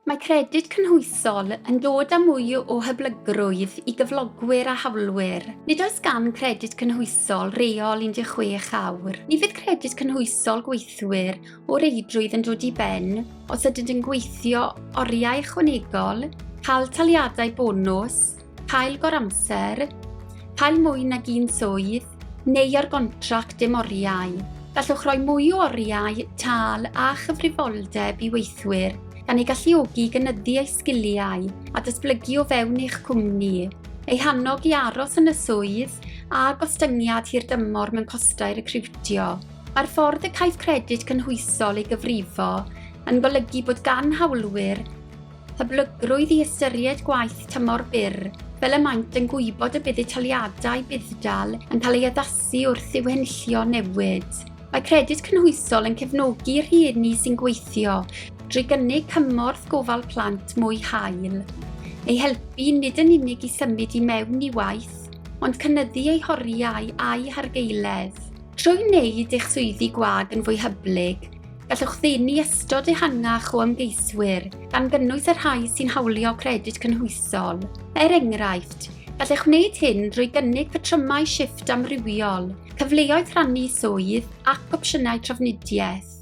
Mae Credyd Cynhwysol yn dod â mwy o hyblygrwydd i gyflogwyr a hawlwyr. Nid oes gan Gredyd Cynhwysol reol 16 awr. Ni fydd Credyd Cynhwysol Gweithwyr o reidrwydd yn dod i ben os ydynt yn gweithio oriau ychwanegol, cael taliadau bonws, cael goramser, cael mwy nag un swydd, neu ar gontract dim oriau. Gallwch roi mwy o oriau, tâl a chyfrifoldeb i weithwyr, gan eu galluogi i gynyddu eu sgiliau a datblygu o fewn eich cwmni, eu hannog i aros yn y swydd, a gostyngiad hirdymor mewn costau recriwtio. Mae'r ffordd y caiff Credyd Cynhwysol ei gyfrifo yn golygu bod gan hawlwyr Hyblygrwydd i ystyried gwaith tymor byr, fel y maent yn gwybod y bydd eu taliadau budd-dal yn cael ei addasu wrth i'w henillio newid. Mae Credyd Cynhwysol yn cefnogi rhieni sy'n gweithio drwy gynnig cymorth gofal plant mwy hael, eu helpu nid yn unig i symud i mewn i waith, ond cynyddu eu horiau a'u hargaeledd. Trwy wneud eich swyddi gwag yn fwy hyblyg, Gallwch ddenu ystod ehangach o ymgeiswyr, gan gynnwys y rhai sy'n hawlio credyd cynhwysol. Er enghraifft, gallech wneud hyn drwy gynnig patrymau shift amrywiol, cyfleoedd rhannu swydd ac opsiynau trafnidiaeth.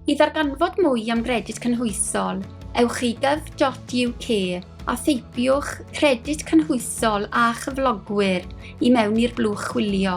I ddarganfod mwy am gredyd cynhwysol, ewch i gov.uk a theipiwch credyd cynhwysol a chyflogwyr i mewn i'r blwch chwilio.